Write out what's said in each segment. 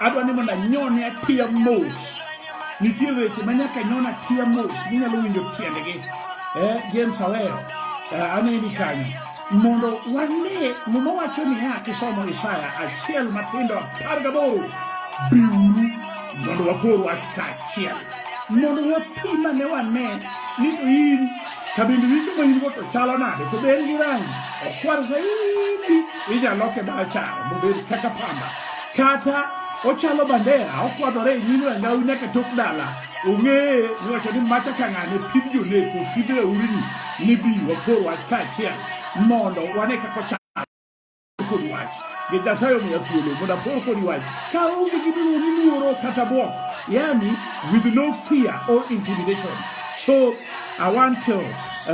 adwa ni mondo anyone atiya mos nitie weche ma nyaka nyona atiya mos minyalo winjo tiendgi eh, james awero eh, aneni kanyo mondo wane muma wacho niya kisomo isaya achiel matindo apar gaboro biuru mondo wakor wach kaachiel mondo wapima ne wane ni to in kabindu richo ma in go to chalo nade to ber gi rangi okwar zaidi inyalo loke mana charo mobed kaka pamba kata ochalo bandera okwadhore e nyim rangau nyaka tok dala ong'eye niwacho ni macha ka ng'ane pid joneko pid raurni ni bi wakor wach kaachiel mondo wane kaka ochalo kod wach nikech nyasaye omiya thuolo mondo akor kodi wach ka onge gimoro ni luoro kata bwok yani with no fear or intimidation so i want to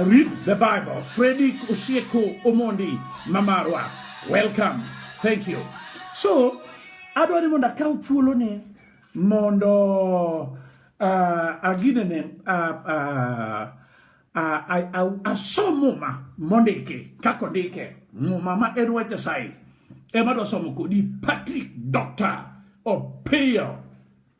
read the bible fredi osieko omondi Mamarwa, welcome. Thank you. So, adwa ni mondo akaw thuolo ni mondo uh, agine ne uh, uh, uh, asom muma mondiki kako ndike muma ma en wach Nyasaye ema dwa somo kodi Patrick Doctor Opiyo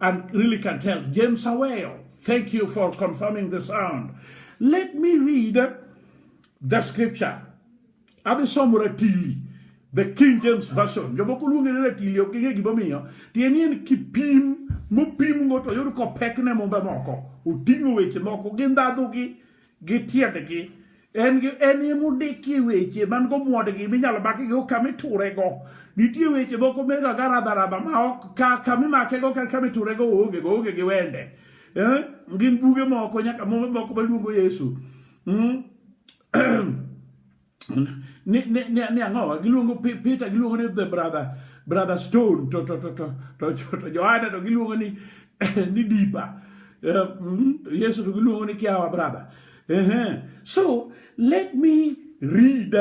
and really can tell. James Aweo, thank you for confirming the sound. Let me read the scripture. Abi somo ratili. The King James Version. Jomoko luonge ni ratili ok ging'e gimomiyo. Tieni en kipim mopimgo to yud kopekne mumbe moko. Oting'o weche moko gi ndhadhugi. gi tiendgi en en emondiki weche man go muodgi minyalo maki go kama iturego nitie weche moko mega ga radharaba ma ok ka kama imakego kata kama iturego oonge go oonge gi wende eh? gin buge moko nyaka moko maluongo yesu hmm? ni, ni, ni, ni ang'owa giluongo Peter giluongo ni the brother brother Stone to to to to to, to, to Joanna to giluongo ni ni Dipa eh, mm, Yesu to giluongo ni Kiawa brother uh -huh. so let me read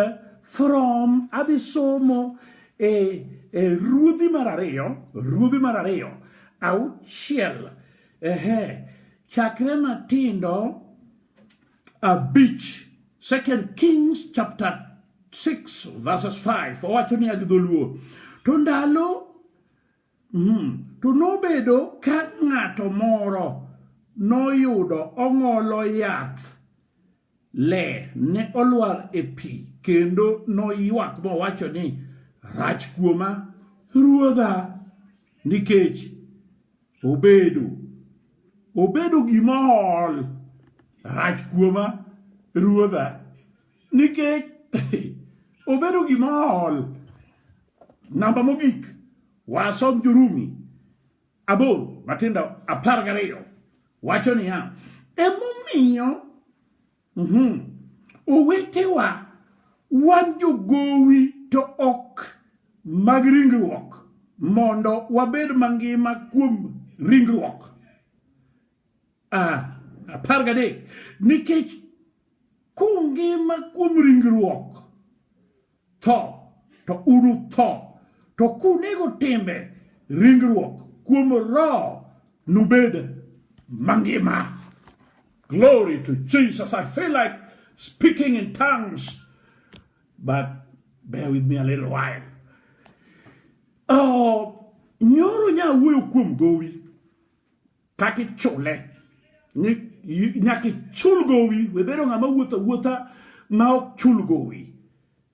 from adhi somo e, e ruodhi mar ariyo ruodhi mar ariyo auchiel uh -huh. chakre matindo abich second kings chapter 6 verses 5 owacho niya gi dholuo to ndalo mm, to nobedo ka ng'ato moro noyudo ong'olo yath le ne olwar e pi kendo noywak mowacho ni rach kuoma ruodha nikech Obedo. Obedo gima ol rach kuoma ruodha nikech obedo gima ol. Namba mogik wasom Jurumi aboro matindo apar gariyo wacho niya, emomiyo Mm -hmm. Owetewa, wan jogowi to ok mag ringruok mondo wabed mangima kuom ringruok. Ah, apar gadek, nikech kungima kuom ringruok Tho, to unutho. To kunego timbe ringruok kuom roho nubed mangima. Glory to Jesus. I feel like speaking in tongues, but bear with me a little while. Oh, nyoro nya wuoyo kuom gowi. kata ichule nyaka ichul gowi we bedo ng'ama wuotho wuotha ma ok chul gowi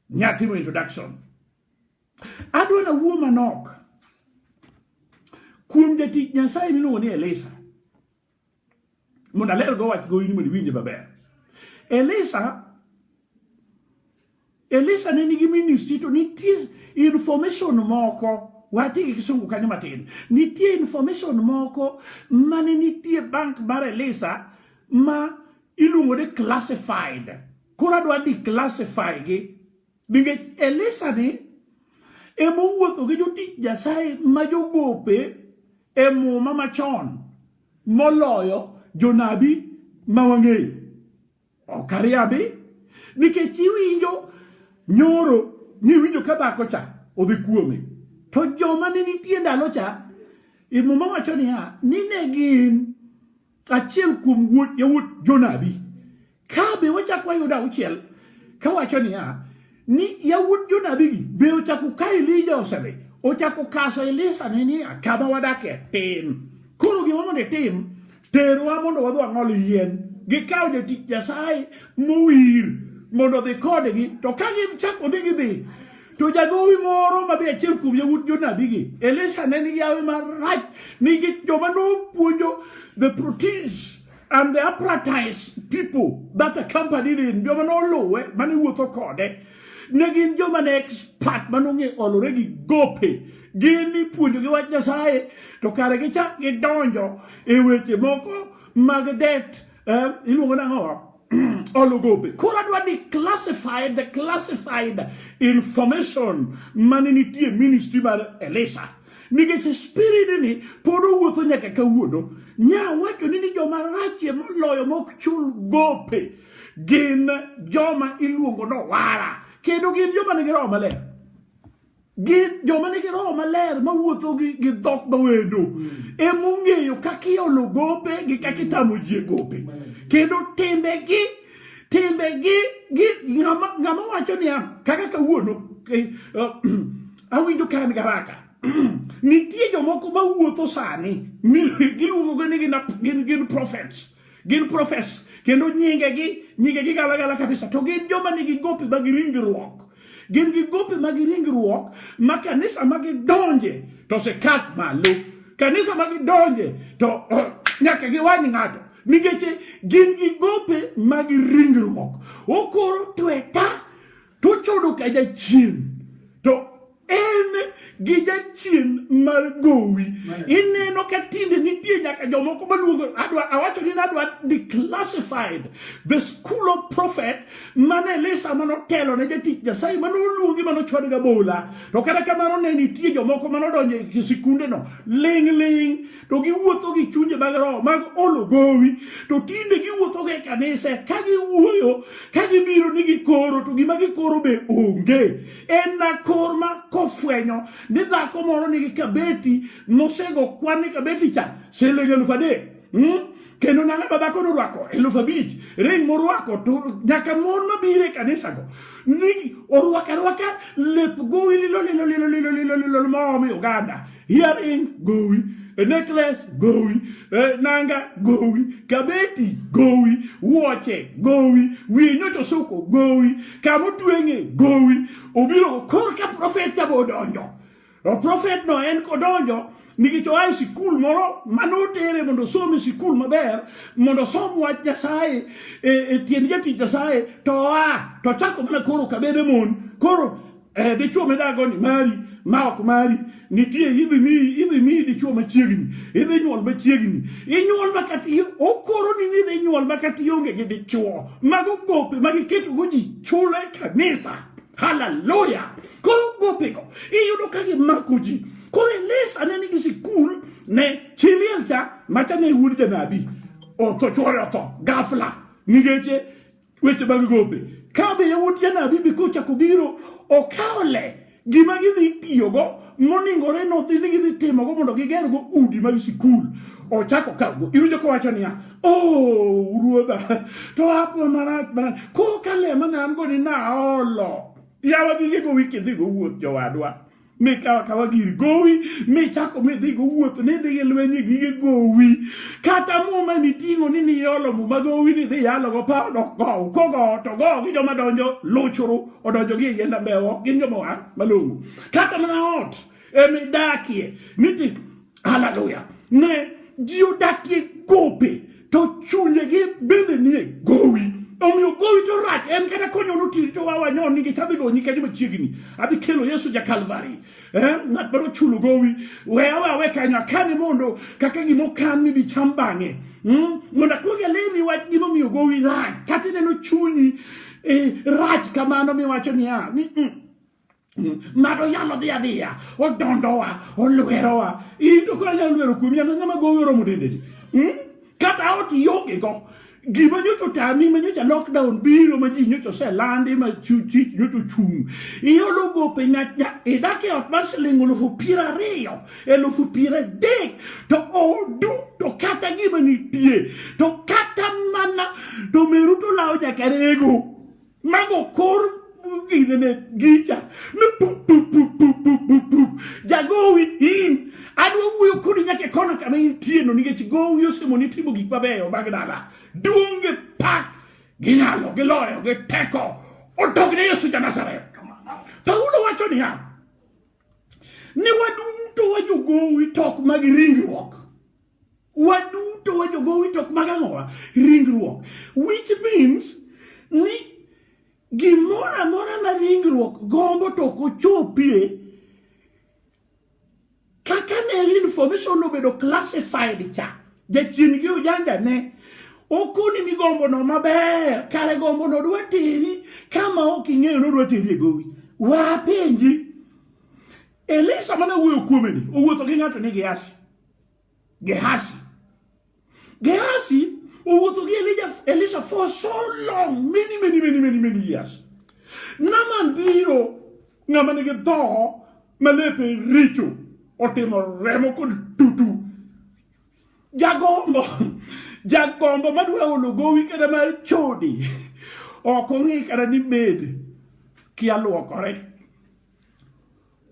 nyatimo introduction adwa na wuo manok kuom jatich nyasaye miluongo ni elisa mondo aler go wach gowi ni mondo iwinje maber elisa Elisa ne nigi ministry to nitie information moko wati gi kisungu kanyo matin nitie information moko mane nitie bank mar Elisa ma iluongo ni classified koro adwa declassify gi nikech Elisa ni ema owuotho gi jotich Nyasaye ma jogope e muma machon moloyo jonabi ma wang'eyo Ok ariambi nikech iwinjo nyoro niwinjo ka dhako cha odhi kuome to joma ne nitie ndalo cha e muma wacho niya ni ne gin achiel kuom yawuot jonabi ka be wachako wayudo auchiel kawacho niya ni yawuot jonabigi be ochako ka elija osedhi ochako kaso elisa ni niya kama wadakie tin koro gima mondo itim terwa mondo wadhi wang'ol yien gikawo jatich nyasaye mowir mondo odhi kodgi to ka gichako ni gidhi to jagowi moro ma be achiel kuom yawuot jonabigi elisa ne nigi yawe marach nigi joma nopuonjo the proteins And the apprentice people that accompanied him, joma noluwe mane wuotho kode, ne gin joma ne expert manong'e olore gi gope gin ipuonjogi wach Nyasaye to kare gichak gidonjo e weche moko mag det eh, iluongo nang'o ologope koro adwa ni classified the classified information mane nitie ministry mar Elisha nikech spiridni pod owuotho nyaka kawuono nya wacho ni ni joma rachie moloyo mok chul gope gin joma iluongo ni owara kendo gin joma nigi roho maler gin joma nigi roho maler mawuotho gi dhok mawendo hmm. emong'eyo kaka iolo gope gi kaka itamo ji e gope kendo timbegi timbegi ng'ama wacho niya kaka kawuono eh, eh, awinjo ka an garaka nitie jomoko ma wuotho sani giluongogo ni gin gin prophets gin profes kendo nyingegi nyingegi galagala kabisa to gin joma nigi gopi mag ringruok gin gi gopi mag ringruok ma kanisa ma gidonje to sekat malo kanisa ma gidonje to oh, nyaka giwany ng'ato nikech gin gi gope mag ringruok okoro tweta To chodo ka jachien to en gi jachien mar gowi ineno ka tinde nitie nyaka jomoko maluongo adwa awacho ni nadwa declassified the school of prophet mane elisa mane otelo ne jatich nyasaye mane oluongi mane ochwad ga bola to kata kamano ne nitie jomoko mane odonjo e sikundeno ling' ling' to giwuotho gi chunje mag roho mag olo gowi to tinde giwuotho gi kanise ka giwuoyo ka gibiro ni gikoro to gima gikoro be onge en na kor ma kofwenyo ni dhako moro nigi kabeti nosego kwan ni kabeti cha siling eluf adek hmm? kendo nanga ba dhako norwako eluf abich ring morwako to nyaka mon mabiro e kanisago ni orwaka rwaka lep gowi lilo lilo lilo lilo lilo lilo maomi oganda Hearing gowi, a necklace gowi, a nanga gowi, kabeti gowi, wuoche gowi, wiye nyocho suko gowi, kama otweng'e gowi. Obiro kor ka profet cha odonjo. O profet no en kodonjo nikech oa e sikul moro mane otere mondo osom e sikul maber mondo osom wach Nyasaye e, e tiend jatich Nyasaye to oa to chako mana koro kabede mon koro eh, dichuo midago ni mari ma ok mari nitie idhi mi idhi mi dichuo machiegni idhi nyuol machiegni inyuol makati okoro ni ni idhi nyuol makati onge gi dichuo mago gope ma giketogo ji chule kanisa haleluya koro gopego iyudo ka gimako ji koro elisa ne nigi sikul ne chiliel cha macha ne wuod janabi otho chwore otho gafla nigeche weche mag gope ka be yawuot janabi bi kochako biro okawo le gima gidhi tiyogo moningore nodhi ni gidhi timogo mondo gigergo udi mag sikul ochako kago iwinjo kowacho niya o oh, ruodha to apo marach marach kokale mana an go ni naolo yawa gigego wiki dhigo wuoth jowadwa mikawa kawa gir gowi michako midhi go wuoth nidhi gi lwenye gige gowi kata muma niting'o ni niolo muma gowi nidhi yalogo pa dok gow kogo to go gi joma donjo luchuru odonjo gi e yienda mbewo gin joma wa malong'o kata mana ot emidakie niti Haleluya! Ne ji odakie gope to chunyegi bende nie gowi omiyo gowi to rach en kata konyono tiri to wawa nyon ni ngech adhi donyi kanyo machiegni adhi kelo yesu ja kalvari eh, ng'at mano chulo gowi we awe awe kanyo akane mondo kaka gima okan ni dicham bang'e hmm? mondo akwong alerni wach gima omiyo gowi rach kata ineno chunyi eh, rach kamano miwacho niya ni mm, Ng'ato nyalo dhi adhiya, odondowa, olwerowa. In to koro nyalo lwero kuomi, an ng'ama gowi oromo tendeni. Hmm? Kata ot ionge go. Gima nyocha otami ma nyocha lockdown biro ma ji nyocha oselandi ma chich nyocha ochung'. Iolo gope nyacha idak e ot mar siling elufu piero ariyo, elufu piero adek to odu to kata gima nitie to kata mana to meru to lawo nyaka rego. Mago kor gine ne gicha ne pup pup pup pup pup pup pup jagowi in adwa wuoyo kodi nyaka e kona kama intie no nikech gowi osemo ni timo gik mabeyo mag dala duong' gi pak gi nyalo gi loyo gi teko odogne Yesu ja Nazareth Paulo wacho niya ni waduto wajogowi tok mag ringruok Waduto wajogowi tok mag ang'owa ringruok which means ni gimoro amora ma ringruok gombo to ok ochopie kaka ne information obedo classified cha jachien gi ujanja ne okoni ni gombo no maber kare gombo no dwa teri kama ok ing'eyo ni odwa teri e gowi wapenji Elisa mana wuoyo kuome ni owuotho gi ng'ato ni giasi Gehazi. Gehazi owuotho oh, gi Elija, Elisha for so long, many, many, many, many, many years. Naman biro ng'ama nigi dhoho ma lepe richo otimo remo kod tutu. Jagombo, jagombo madwa olo gowi kata mar chode ok ong'i kata ni bed kialuokore.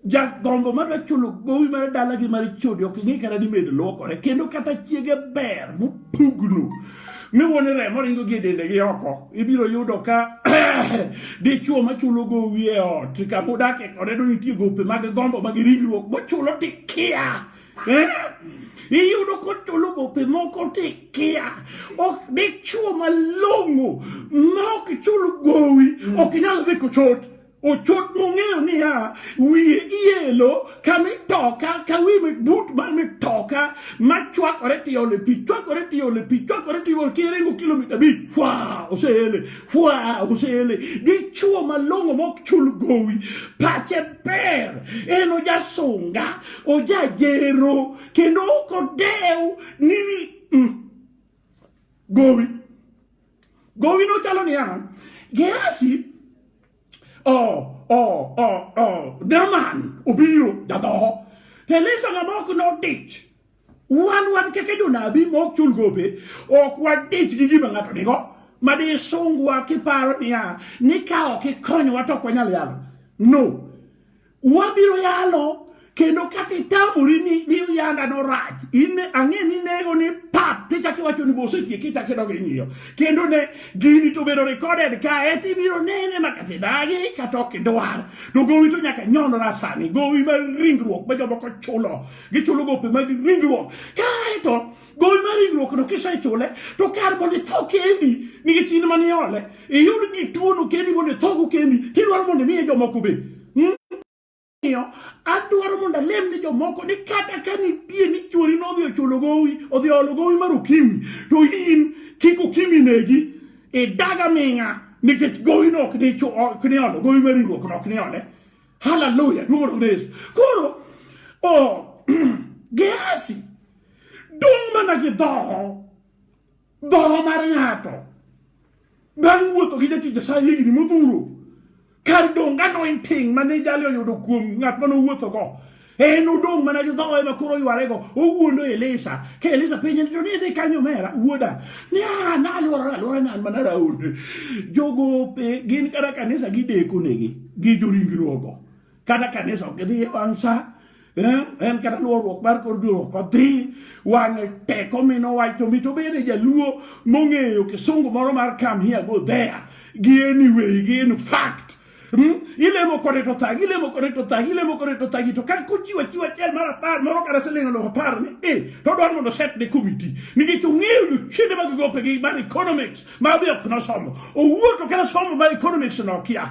jagombo madwa chulo gowi mar dalagi mar chode ok ing'e kata ni med luokore kendo kata chiege ber mopugno miwuone remo ringo gi e dende gi oko ibiro yudo ka dichuo machulo gowi e ot kama udakie kode do nitie gope mag gombo mag ringruok mochulo tikia eh? iyudo kochulo gope moko tikia ok dichuo malong'o ma ok chul gowi ok inyal dhi kochot Ochot nong'eyo niya, wiye iyelo ka mitoka ka wi but mar mitoka ma chwakore tiole pi chwakore tiole pi chwakore tiole kiringo kilomita abich fwa oseele fwa oseele dichuo malong'o mok chul gowi pache ber en ojasunga ojajero kendo ok odew ni mm, gowi Gowino no chalo ni ano. Gehasi oh oh oh oh Daman obiro jadhoho. Elisa ng'ama ok nodich. Wan wan keke jonabi ma ok chul gope ok wadich gi gima ng'ato nigo ma di sungwa kiparo niya ni ka ok ikonywa to ok wanyal yalo. No. Wabiro yalo kendo kata itamori ni ni yanda no rach in ang'e ni nego ni pap ti chaki wacho ni bose tie kita kedo gi ngiyo kendo ne gini to bedo recorded ka e ti biro nene ma kata dagi kata ok dwar to gowi to nyaka nyono na sani gowi ma ringruok ma jomoko chulo gichulo gope mag ringruok kae to gowi mar ringruokno kisechule to kar mondo itho kendi nikech in mane ole iyud gi tuono kendi mondo ithogo kendi tidwaro mondo imiye jomoko be hmm? miyo adwaro mondo alem ni jomoko ni kata ka nitie ni chuori no odhi ochulo gowi odhi olo gowi mar ukimi to in kik ukimi negi idaga ming'a nikech gowi no ok ni ok ni olo gowi mar ringruok no ok ni ole haleluya duong' ne Yesu koro oh Gehazi Dong mana gi dhoho, dhoho mar ng'ato. Bang' wuotho gi jatich Nyasaye higni modhuro, kar dong' ga anointing mane jali oyudo kuom ng'at mane owuothogo, en odong' mana gi dhoho ema koro oyware-go, owuondo Elisa. Ka Elisa penje ni to ni idhi kanyo omera, wuoda, ni a naluorora aluora nan mana raond. Jogope gin kata kanisa gideko negi gi joringruogo. kata kanisa ok gidhi e wang' sa eh, en kata luorruok mar kor duoruok odhi wang'e teko mino wacho mi to bende jaluo mong'eyo kisungu moro mar kam here go there gi anyway gi in fact Hmm? ilemo kode to thagi ilemo kode to thagi ilemo kode to thagi to ka kochiwa chiwa achiel mar apar moro kata siling alof apar ni e to odwaro mondo set ne komiti nikech ong'eyo jochiende mag gope gi mar economics ma be ok nosomo owuo to kata somo mar economics nokia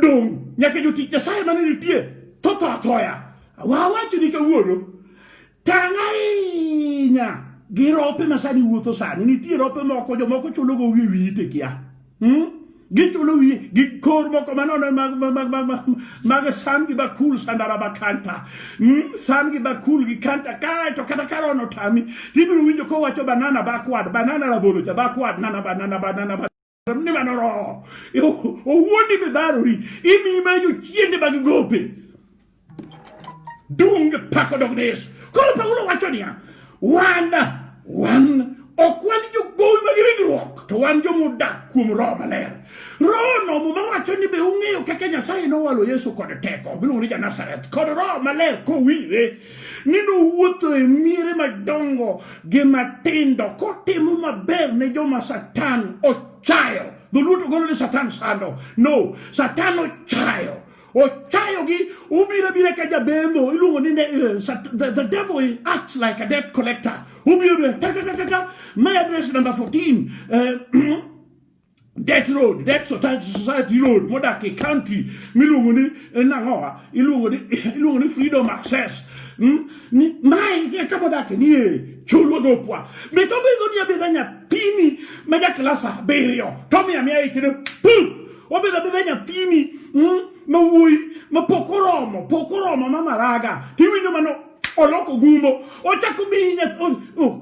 Dong' nyaka jotich Nyasaye mane nitie to tho athoya. Wawacho ni kawuono tang' ahinya gi rope ma sani wuotho sani. Nitie rope moko jomoko chulogo wi wiyi to ikia. Hmm? Gichulo wiye gi kor moko manono mag, mag, mag, mag, mag, mag san gi bakul sandara bakanta. Hmm? San gi bakul gi kanta kae to kata karo no tami. Tibiro winjo kowacho banana backward, banana rabolo cha backward, nana banana banana banana. ni mano roho e owuondi be barori imiyi mana jochiende mag gope dung pako dog ne yesu koro paulo wacho niya wan wan ok wan jogowi mag ringruok to wan jomodak kuom roho maler rohono muma wacho ni be ung'eyo kaka nyasaye nowalo yesu kod teko miluongo ni janazareth kod roho maler kowire ni nowuotho e miere madongo gi matindo kotimo maber ne joma Satan ochayo. Dholuo to golo ni Satan sando. No, Satan ochayo. Ochayogi ubiro bira ka jabendo iluongo ni eh, the, the devil acts like a debt collector. Ubiro bira ta ta ta ta ta. My address number 14. Uh, eh, death road death society road mo dak i country miluongo ni eh, nang'owa iluongo ni iluongo ni freedom access mm? ni mae e kama odake ni e chulwa gopwa be to bidho ni abidha nyathini ma ja klas abiriyo to miya miya ikene pum obidho abidha nyathini mm? ma wuoyi ma pok oromo pok oromo ma maraga tiwinjo mano oloko gumbo ochako miyi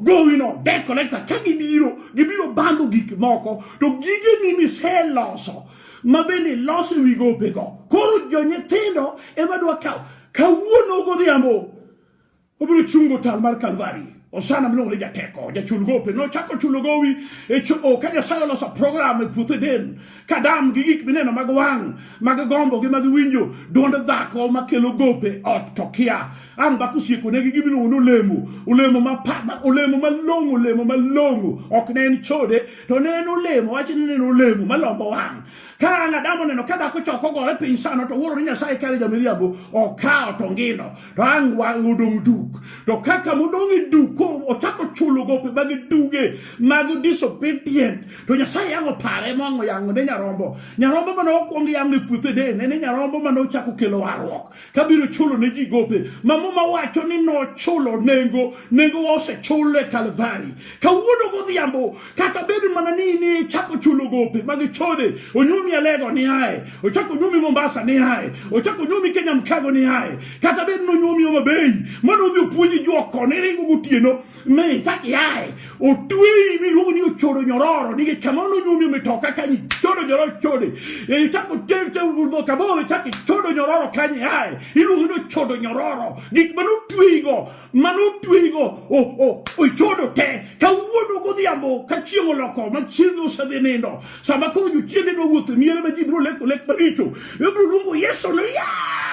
gowi no debt collector ka gibiro gibiro bandho gik moko to gigeni miseloso ma bende loso wi gopego koro jonyithindo ema dwa kawo kawuono godhiambo obiro chungo tal mar kalvari osana miluongo ni jateko jachul gope nochako chulo gowi e choo ka nyasaye oloso program e puothe den kadam gi gik mineno mag wang' mag gombo gi mag winjo duond dhako makelo gope ot to kia ang' dhako osiekonegi gimiluongo ni olemo olemo mapama olemo malong'o olemo malong'o ok ne en chode to ne en olemo wach ni ne en olemo malombo wang' ka ang' adam oneno ka dhako choko gore piny sano to wuoro ni nyasaye kare jamiriambo okawo to ngino to ang' wang' odong' duk to kaka modong' e duk ochako chulo gope mag duge mag disobedient to nyasaye yang'o pare mwango yang'o ne nyarombo nyarombo mane okwong yang'o e puothe de ne nyarombo mane ochako kelo warruok kabiro chulo ne ji gope ma muma wacho ni nochulo nengo nengo osechule kalvari kawuono godhiambo kata bed mana ni ni chako chulo gope mag chode onyumi alego ni ae ochako onyumi mombasa ni ae ochako onyumi kenya mkago ni ae kata bed ni onyumi oma bei mano odhi opuonji jwoko ni ringo gotieno me ichak iae otweyi miluongo ni ochodo nyororo nikech kama nonyumi omitoka kanyi chodo nyororo chode e, ichako dhoka boro ichak ichodo nyororo kanyi ae iluongo ni ochodo nyororo gik mane otweyigo mane otweygo ochodo te kawuono godhiambo ka chieng' oloko ma chieng' osedhi nindo sama koro jochiende nowuotho e miere ma ji biro leko lek maricho ibiro luongo yesu ni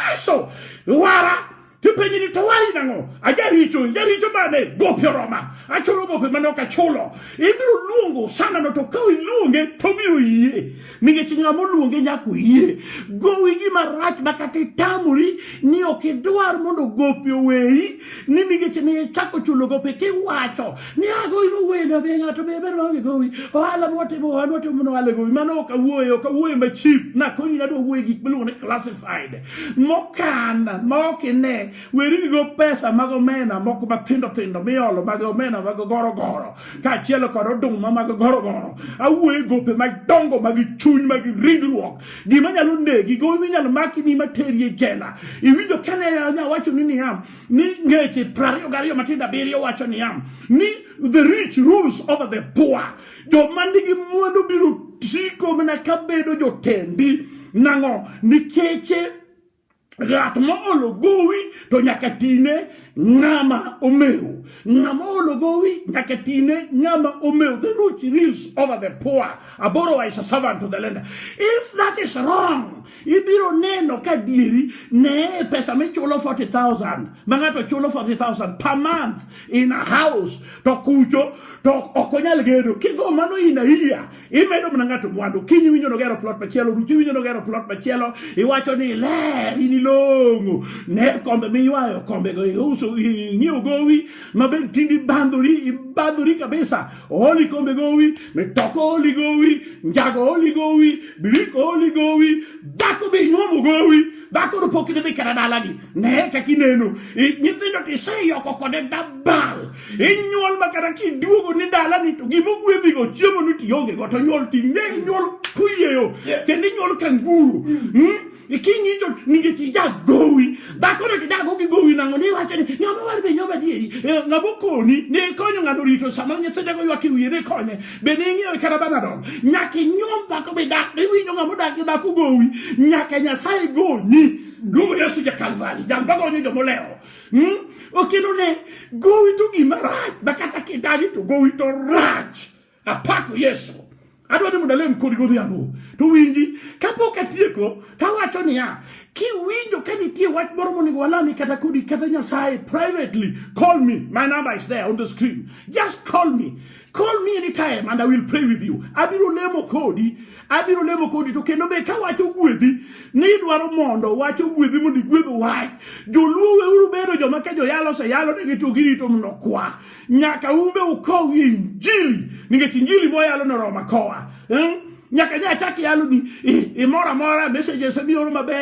yesu wara tipenji ni to wari nang'o ajaricho jaricho mane gopi oroma achulo gopi mane ok achulo ibiro luongo sanano to ka iluonge to obiro yie nikech ng'ama oluonge nyaka oyie gowi gima rach ma kata itamori ni ok idwar mondo gope oweyi ni nikech ni ichako chulo gope kiwacho ni agowi ah, mowendo be ng'ato be ber maonge gowi ohala mwatimo ohala mwatimo mondo ohala gowi mano ok awuoye ok awuoye ma chip nakonyi nadwa wuoye gik miluongo ni classified mokan ma ok ine weri gi go pesa mag omena moko mathindo thindo miolo mag omena mag gorogoro kaachiel kod oduma mag gorogoro awuoyo e gope madongo mag chuny mag ringruok gima nyalo negi go minyalo maki ni materi e jela iwinjo kane nya wacho ni niya ni ngeche prariyo gariyo matindo abiriyo wacho niya ni the rich rules over the poor joma nigi mwandu biro siko mana kabedo jotendi nang'o nikeche Ng'at ma olo gowi to nyaka tine ng'ama omew. Ng'ama olo gowi nyaka tine ng'ama omew. The rich rules over the poor. A borrower is a servant to the lender. If that is wrong, ibiro neno ka dieri ne pesa michulo 40,000 ma ng'ato chulo 40,000 per month in a house to kucho to ok onyal gedo. Kigo mano in a year imedo mana ng'ato mwandu kiny iwinjo nogero plot machielo ruch iwinjo nogero plot machielo iwacho ni ler in ilong'o ne kombe miywayo kombego iuso ing'iewo gowi maber tindi bandhori ibandhori kabisa ooli kombe gowi mitoko ooli gowi njago ooli gowi biriko ooli gowi dhako be inyuomo gowi dhako no pok idhi kata dalagi ne kaka ineno nyithindo tiseyoko kode dabal inyuol ma kata kiduogo ni dalani to gima ogwedhigo chiemo ni tionge go to nyuol ti ne nyuol kuyieyo kendo inyuol ka nguru hmm? iking'icho nikech ijagowi dhakono tidago gi gowi nang'o ni iwacho ni ng'ama war be nyoma adieri eh, ng'ama okoni ne ikonyo ng'ato rito sama nyithindego ywak e wiye ne ikonye be ne ing'iewe kata banadol nyaka inyuom dhako bidak iwinjo ng'ama odak gi dhako gowi nyaka nyasaye goni luongo yesu ja kalvari jal magonyo jomolewo Hmm? Okelo ne gowi to gima rach makata kidagi to gowi to rach. Apako Yesu. Adwa ni mondo alem kodi godhiambo. To winji, kapok atieko, tawacho niya, kiwinjo ka nitie wach moro monego walami kata kodi kata Nyasaye privately, call me. My number is there on the screen. Just call me. Call me anytime and I will pray with you. Abiro lemo kodi, abiro lemo kodi to kendo be ka wacho gwedhi ni idwaro mondo wacho gwedhi mondo igwedh wach. Joluo weuru bedo joma ka joyalo se yalo ne gito girito mondo kwa. Nyaka umbe ukow injili, nikech injili moyalo no Roma kowa. Hmm? nyaka nya achak yaloni imoro amora messages mioro maber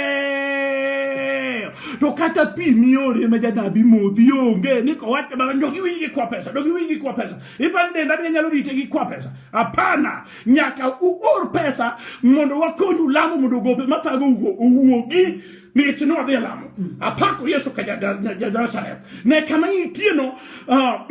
to kata pi miore ma janabi modhi onge ni kowacho mana dog iwinj gi kwa pesa dog iwinj gi kwa pesa ipani denda bi nyalo rite gi kwa pesa hapana nyaka uor pesa mondo wakonyu lamo mondo gope mathago owuogi nikech ne wadhi e lamo mm. apako yesu ka ja nazareth ne kama intieno ah,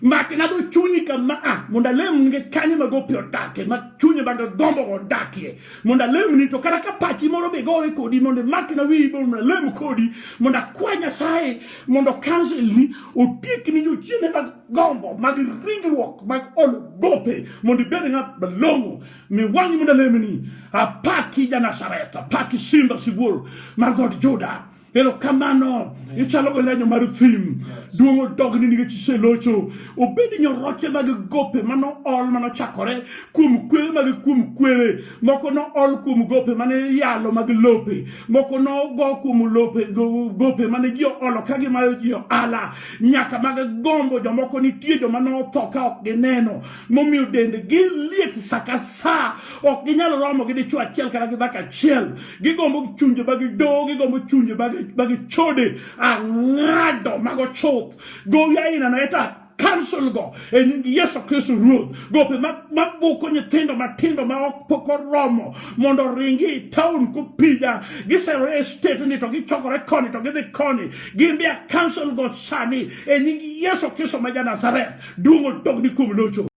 Make na dho chunyi kama a ah, mondo alem nikech kanye ma gope odakie ma chunye mag gombo odakie mondo alem ni to kata ka pachi moro be gore kodi mondo make na wiyi mondo alem kodi mondo akwa Nyasaye mondo cancel ni otiek ni jochiende mag gombo mag ringruok mag olo gope mondo ibed ng'at malong'o mi wang'i mondo alem ni apaki ja Nazareth apaki simba sibuor mar dhood Juda erokamano ichalo go lanyo mar thim duong' odogni nikech iselocho obedi nyoroche mag gope mano ol manochakore kuom kwere mag kuom kwere moko no ol kuom gope mane yalo mag lope moko no go kuom lope gope mane ji olo ka gimayo ji oala nyaka mag gombo jomoko nitie joma notho ka ok gineno momiyo dendgi liet sa ka sa ok ginyal romo gi dichwo achiel kata gi dhako achiel gigombo chunje ma gidowo gigombo chunje ma gichode ang'ado mago chuth gowi aina na eta council go e nying Yesu Kristo Ruoth gope mabuko nyithindo matindo ma ok pok oromo mondo oringi e town kopija giserore e state ni to gichokore koni to gidhi koni gin be a council go sani e nying Yesu Kristo ma ja Nazareth duong' odogni kuom locho